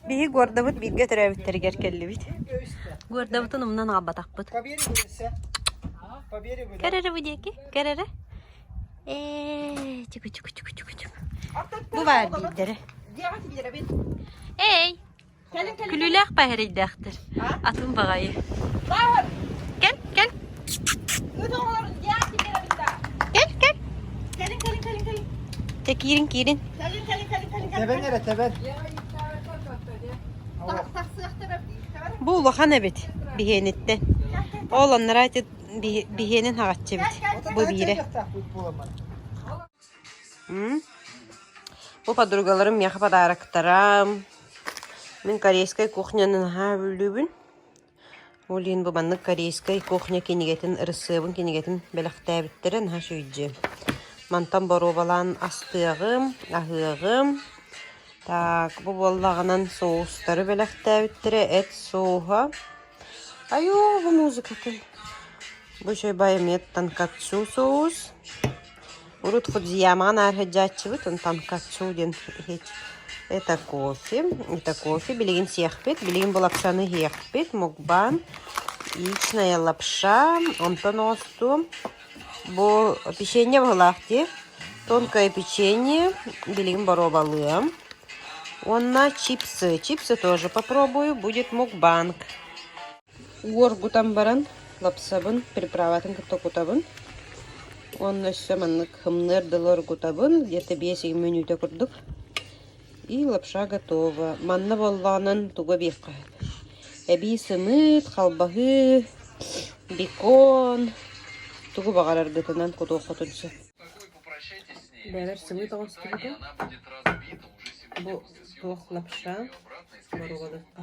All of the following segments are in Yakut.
Биһи Гордабыт бииргэ төрөөбүттэригэр кэллибит Гордабытын умнан аҕалбатахпыт Кэрэрэ бу диэки, кэрэрэ Ээ, чуку чуку чуку чуку чуку Бу баар диирдэрэ Эй, күлүүлээх баһарыйдаахтар атын баҕайы Кэл, кэл Киирин киирин. Тэбэн эрэ тэбэн. Бу улахан эбит биһиэниттэн. Ол оннура биһиэнин хаҕаччы эбит. Бу биирэ. Бу подругаларым миэхэ подароктарам. Мин корейскай кухняны наһаа бүлүүбүн. Ол иһин бу маннык корейскай кухня кинигэтин ырысыабын кинигэтин бэлэхтээбиттэрэ наһаа үчүгэйдиир. Мантан боруобалаан астыаҕым, аһыаҕым. Так, бу буоллаҕынан соустары бэлэхтээбиттэрэ эт сууһа. Айуу, бу музыкатын. Бу чай байметтан кацу соус. Урут Фудзиямаҕа наар сылдьааччыбыт, онтон Качу диэн иһит это кофе. Это кофе билигин сиэхпит, билигин булапшаны иһиэхпит, мукбан, яичная лапша, онтон оосту. Бу печенье быһыылаах дии. Тонкое печенье, билигин боруобалыам. Уонна чипсы. Чипсы тоже попробую, будет мукбанг. Уоргутан баран, лапсабын, приправатын кытта кутабын. Уонна өссө маннык хымныар дылы оргутабын, где-то биэс-иги мүнүүтэ курдук. И лапша готова. Манна буоллаҕынан тугу эбиэххэ сөбүй? Эбии сымыыт, халбаһыы, бекон, тугу баҕараргытынан кутуоххутун сөп. Бэрэр сымыыт оҕустубута. Бу туох лапша, боруодукка.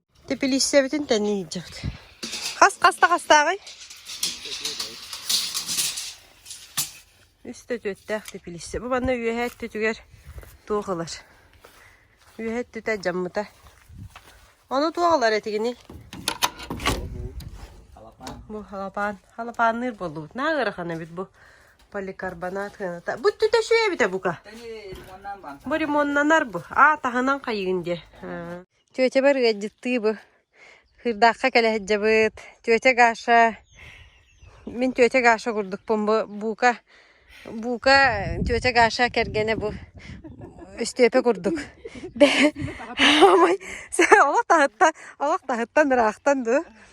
Тэпилииссэбитин тэннэ иһдьэбит. Хас хас да хастааҕый? Үс да түөттээх тэпилииссэ. Бу манна үөһэ өттүтүгэр туох ылар? Үөһэ өттүтэ дьаммыта. Ону туох ылар этигиний? Бу халапаан. Халапаанныыр буоллубут. Наа ыарахан эбит бу. Поликарбонат хыаната. Бу өттүтэ үчүгэй эбитэ бука. Бу ремоннанар бу. Аа таһынан хайыгын диэ. Тетябар ыалдьыттыы бу Сыырдаахха кэлэ сылдьабыт. Тетя Гаша, мин тетя Гаша курдукпун бу бука, бука тетя Гаша кэргэнэ бу Өстүөпэ курдук. Бэйэ олох таһыттан, олох таһыттан ыраахтан дуу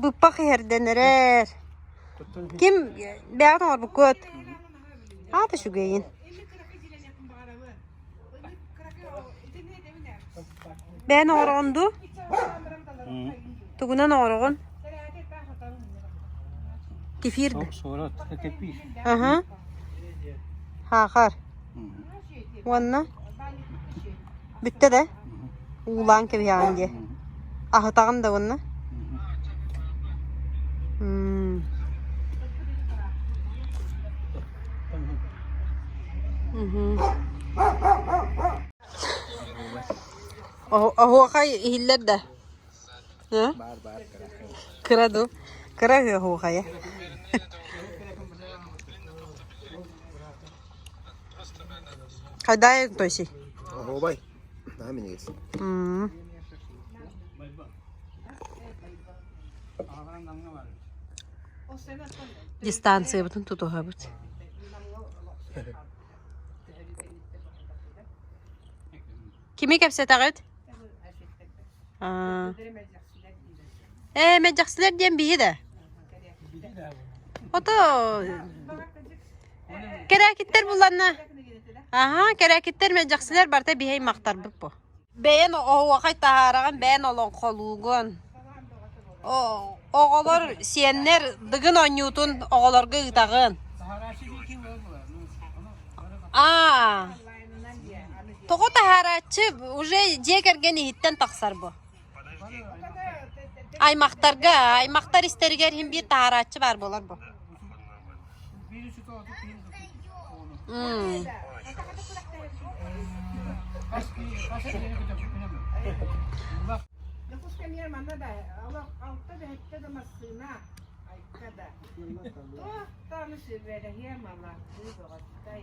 Быппах иһэрдэнэрэр. Ким бэйэҕит оҥорбуккут? Аатыш үгэйин. Бэйэн оҥороҕун дуу? Тугунан оҥороҕун? Кефир да? Суорат, кепир. Аха. Хаахар. Уонна? Бүттэ да? Уулаан кэбиһэҕин диэ. Аһытаҕын да уонна? Оһуохай иһиллэр да Кыра дуу? Кыра ыһыаһуохайа Хайдаа той-сий? Оһуобай, наһаа минигис. Дистанциябытын тутуһабыт. Кими кэпсэтэҕит? Ээ, мэджэксилэр диэн биһи да. Ото кэрээкиттэр буланна. Аха, кэрээкиттэр мэджэксилэр барта биһэй мақтарбыт бу. Бэйэн оһуохай таһаараҕын бэйэн олон холуугун. Оҕолор сиэннэр дыгын оонньуутун оҕолорго ыытаҕын. А Тоҕо таһаарааччы уже дьиэ кэргэн иһиттэн тахсар бу? Аймахтарга, аймахтар истэригэр иһин биир таһаарааччы баар буолар бу. Дьокуус кэмиэр манна да олох алта да hetте да массыына айта да. Туохтааны сүрбэлэһиэ малахтыы бөҕөттэй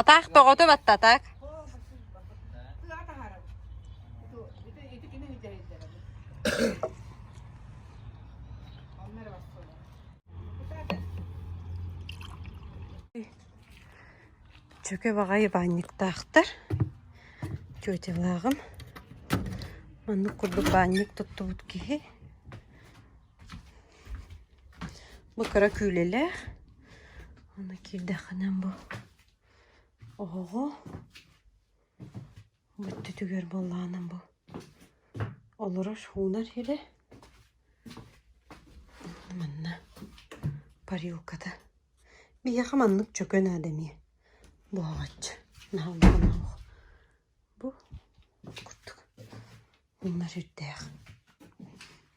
Атаах тоҕоту баттатак. Чөкө баҕайы баанньыктаахтар. Тетялааҕым. Маннык курдук баанньык туттубут киһи Бу кыра күүлэлээх. Ону киирдэххинэ бу оҕоҕо бүттүтүгэр буоллаҕына бу олорор уунар ирэ манна парилката биһиэхэ маннык чөкө наада эмиэ буһаҕаччы наһааллаах оһох бу курдук уунар ирдээх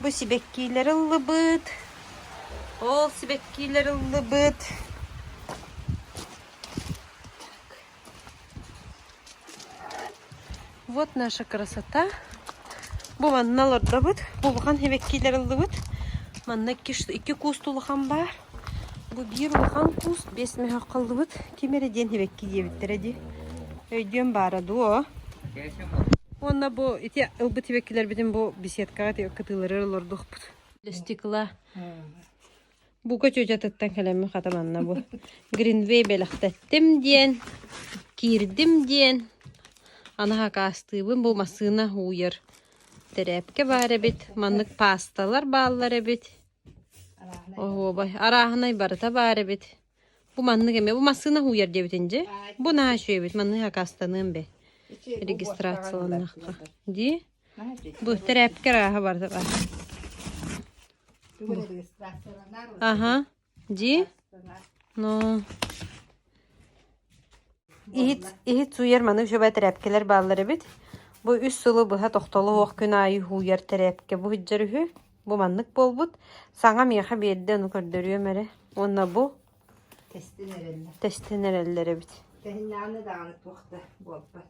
Бу сибэккиилэр ыллыбыт. Ол сибэккиилэр ыллыбыт. Вот наша красота. Бу манна олордобут. Бу улахан сибэккиилэр ыллыбыт. Манна икки, икки куусту улахан баар. Бу биир улахан куус биэс мөһөх халлыбыт ким эрэ диэн сибэкки диэбиттэрэ дии. Өйдүөн баара дуо? Уонна бу ити ылбыт сибэккилэрбитин бу беседкаҕа ити кытыылары олордухпут. Стекла. Бука чүчатыттан кэлэммин хатан анна бу. Гринвей бэлэхтэттим диэн, киирдим диэн, анаһа акаастыыбын. Бу массыына ууйар тэрээпкэ баар эбит. Маннык паасталар бааллар эбит. Оһуобай, арааһынай барыта баар эбит. Бу маннык эмэ, бу массыына һууйар диэбитин дьэ. Бу наһаа үчүгэй эбит, маннык акаастаныам бэ. Регистрацияланнахха. Дии? Бу тэрээпкэ арааһа барыта баар. Аха, дии? Ну... иһит иһит сууйар маны учуобай тэрээпкэлэр бааллар эбит бу үс сылы быһа тохтоло суох күн аайы сууйар тэрээпкэ буһуйдар үһү бу маннык буолбут саҥа миэхэ биэрдэ ону көрдөрүөм эрэ уонна бу тэстин эрэллэр тэстин эрэллэр эбит кэһиннэҕинэ даҕаны туох да буолбат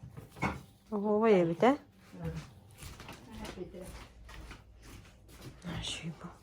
оһуобай эбит ээ Hm. Ah, je suis bon.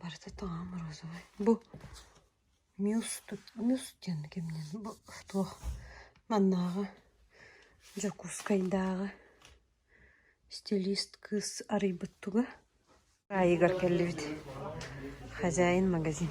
барыта тоҕо морозовой бу мюс тут мюс диэн киминэн бу туох маннааҕы дьокуускайдааҕы стилист кыыс арыйбыт туга аайыгар кэллибит хозяин магазин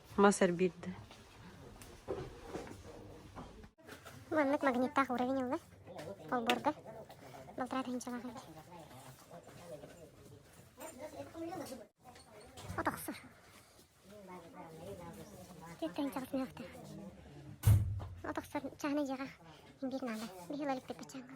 мас эрбиирдэ Маннык магниттаах уровень ылла. Олборго. Балтараа тыһыынчалаах эбит. От охсор. Жетт тыһыынчалык мөөхтө. От охсор чааны дьиэҕэ биир наада. Биһи лалыктык качаанга.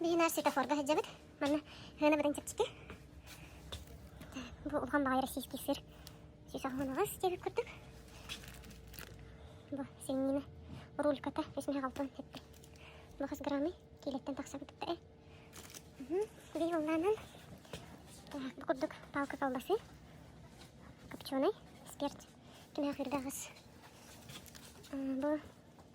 Биһи наар светофорга сылдьабыт. Манна Хыана быдан чэпчэки. Бу улахан баҕайы российский сир. Сүүс аҕыс диэбит курдук. Бу сиҥнина рульката 86 эппи. Бухас граммы киилэттэн тахсабыт э. Биһи уллаанан так бу курдук палка калласы копченый спирт кинахырдагыс бу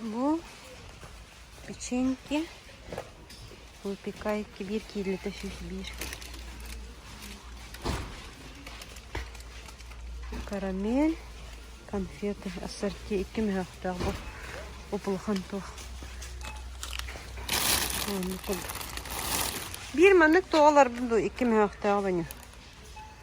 Бу печеньки выпекайте биир киилитэ сүүс биир карамель конфеты ассорти икки мөһөөхтөөх бу улахан туох биир маннык туох олорбут дуу икки мөһөөхтөөх бу ньу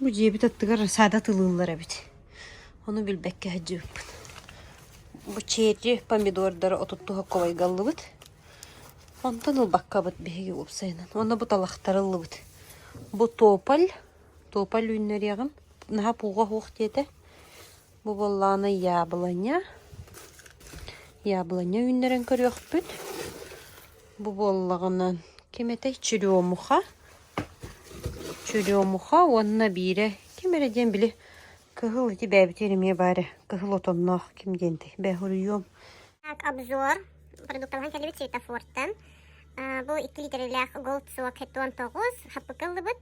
Бу дьиэбит аттыгар саада атылыыллар эбит. Ону билбэккэ сылдьыбыппыт. Бу чэчи, помидордары отутту хоккобайгаллыбыт. Онтон ылбаккабыт биһиги уопсайынан. Уонна бу талахтары ыллыбыт. Бу тополь. Тополь үүннэриэҕим. Наһаа пууга суох диэтэ. Бу буоллаҕына яблоня. Яблоня үүннэрэн көрүөхпүт. Бу буоллаҕына ким этэй черемуха. Чудемуха уонна биирэ ким эрэ диэн били кыһыл ити бэйэбитигэр эмиэ баар ээ кыһыл отонноох ким диэнтэй бөһүрүйүөм Так обзор продуктабытын кэллибит светофортан бу икки литрлээх голд суок хеттон тоҕус хаппыкка ыллыбыт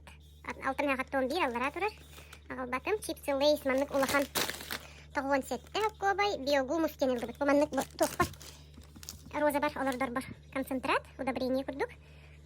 алтан хаттон биир аллараа турар аҕалбатым чипсы лейс маннык улахан тоҕуон сэттэ окуобай биогумус диэн ыллыбыт бу маннык туохпа розабар олордорбор концентрат удобрение курдук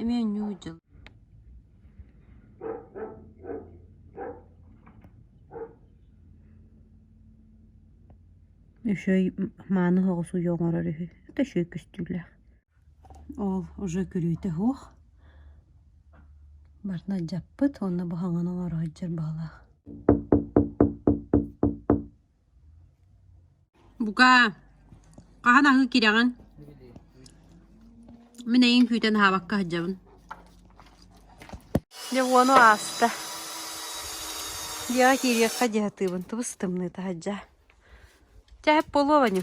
эмиэ ньуу дьыл үчүгэй мааны соҕус уйа оҥорор үһү это еще и көстүүлээх ол уже күрүүтэ суох барыта дьаппыт уонна бу хаҥаны оҥоро сылдьар баҕалаах Бука, хаһан аһыы кирэҕин? Мин эйиҥ күүтэн аһаабакка сылдьабын Дьэ уону ааста Дьиэҕэ киириэххэ дии сатыыбын Тыбыс тымныыта сылдьа Чэ эп буолуо Ваню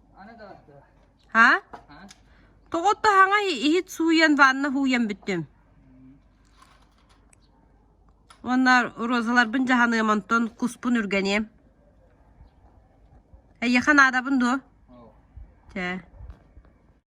ha тоҕотто хаҥай иһит сууйан ванна һууйан бүттүм уонна розаларбын дьаһаныам онтон куспун үргэниэм эйиэхэ наадабын дуо чэ